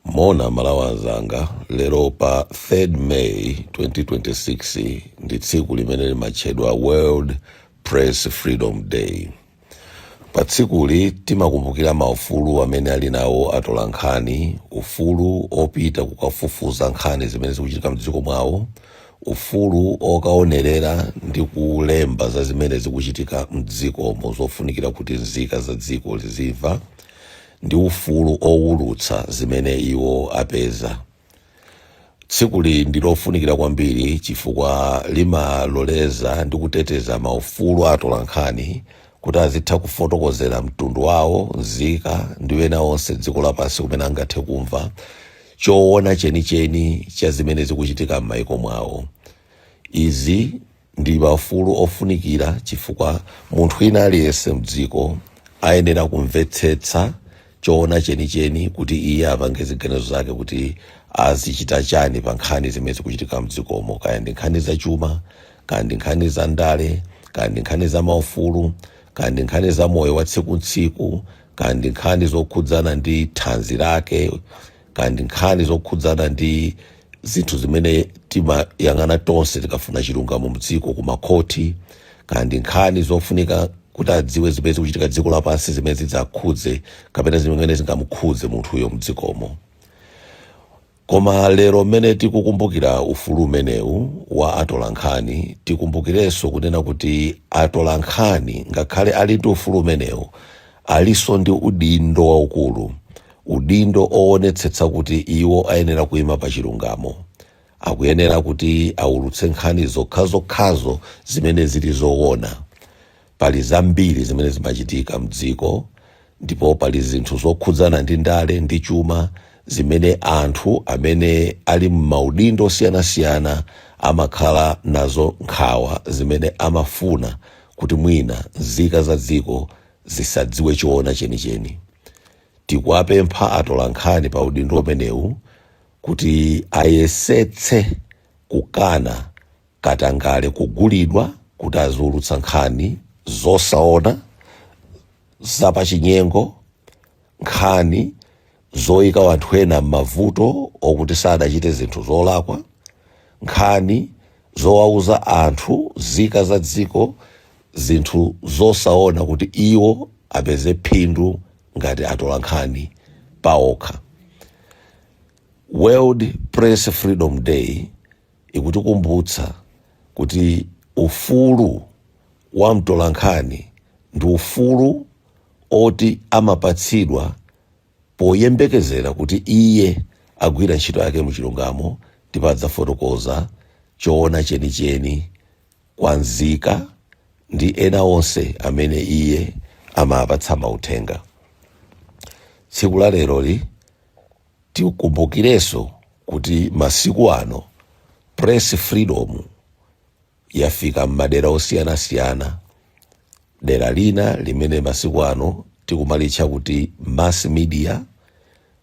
moni amalawi anzanga lero pa 3 may 2026 ndi tsiku limene limatchedwa world press freedom day pa tsikuli timakumbukira maufulu amene ali nawo atola nkhani ufulu opita kukafufuza nkhani zimene zikuchitika mdziko mwawo ufulu okaonerera ndi kulemba za zimene zikuchitika mdzikomo zofunikira kuti nzika za dziko zizimva ndi ufulu owulutsa zimene iwo apeza. Tsikuli ndi lofunikira kwambiri chifukwa limaloleza ndi kuteteza maufulu a atolankhani kuti azitha kufotokozera mtundu wawo, nzika, ndi ena onse dziko lapansi kumene angathe kumva choona chenicheni cha zimene zikuchitika m'maiko mwawo. Izi Ndi maufulu ofunikira chifukwa munthu wina aliyense mdziko ayenera kumvetsetsa choona chenicheni kuti iye apange ziganizo zake kuti azichita chani pa nkhani zimene zikuchitika mdzikomo kaya ndi nkhani za chuma kaya ndi nkhani za ndale kaya ndi nkhani za maufulu kaya ndi nkhani za moyo wa tsiku ntsiku kaya ndi nkhani zokhudzana ndi thanzi lake kaya ndi nkhani zokhudzana ndi zinthu zimene timayang'ana tonse tikafuna chilungamo mdziko ku makhoti kaya ndi nkhani zofunika kuti adziwe zimene zikuchitika dziko lapansi zimene zidzakhudze kapena zimene zingamukhudze munthuyo mdzikomo koma lero mmene tikukumbukira ufulu umenewu wa atolankhani tikumbukirenso kunena kuti atolankhani ngakhale ali ndi ufulu umenewu alinso ndi udindo waukulu udindo owonetsetsa kuti iwo ayenera kuima pa chilungamo. Akuyenera kuti aulutse nkhani zokhazokhazo zimene zili zowona. Pali zambiri zimene zimachitika mdziko ndipo pali zinthu zokhudzana ndi ndale ndi chuma zimene anthu amene ali mmaudindo osiyanasiyana amakhala nazo nkhawa zimene amafuna kuti mwina nzika za dziko zisadziwe choona chenicheni. Tikuwapempha atolankhani pa udindo umenewu kuti ayesetse kukana katangale kugulidwa kuti aziulutsa nkhani zosaona, zapachinyengo, nkhani zoika anthu ena m'mavuto okuti sadachite zinthu zolakwa, nkhani zowauza anthu nzika za dziko zinthu zosaoona kuti iwo apeze phindu ngati atolankhani paokha. World Press Freedom Day ikutikumbutsa kuti ufulu wa mtolankhani ndi ufulu oti amapatsidwa poyembekezera kuti iye agwira ntchito yake muchilungamo ndipo adzafotokoza choona chenicheni kwa nzika ndi ena onse amene iye amawapatsa mauthenga. Tsiku la leroli tikumbukirenso kuti masiku ano press freedom yafika m'madera osiyanasiyana. Dera lina limene masiku ano tikumalitcha kuti mass media,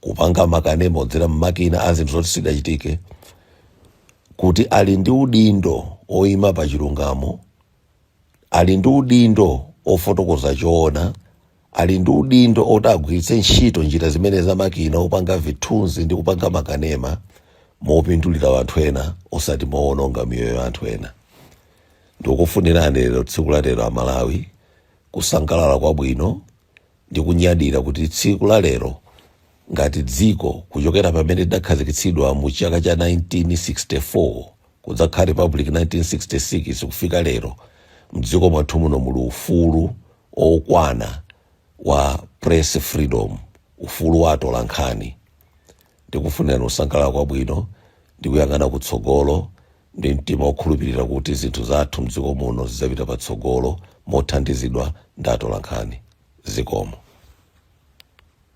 kupanga makanema odzera m'makina a zinthu zoti sidachitike, kuti ali ndi udindo oima pa chilungamo, ali ndi udindo ofotokoza choona, ali ndi udindo oti agwiritse ntchito njira zimene za makina opanga vithunzi ndi kupanga makanema mopindulira wanthu ena osati mowononga miyoyo ya anthu ena. Ndikufunirani lero tsiku la lero a Malawi kusangalala kwabwino. ndi kunyadira kuti tsiku la lero ngati dziko kuchokera pamene tidakhazikitsidwa mu chaka cha 1964 kudzakhala republic 1966 kufika lero mdziko mwathu muno muli ufulu okwana wa press freedom ufulu wa atolankhani ndikufunirani kusangalala kwabwino ndikuyang'ana kutsogolo ndi mtima okhulupirira kuti zinthu zathu mdziko muno zidzapita patsogolo mothandizidwa ndi atolankhani. Zikomo.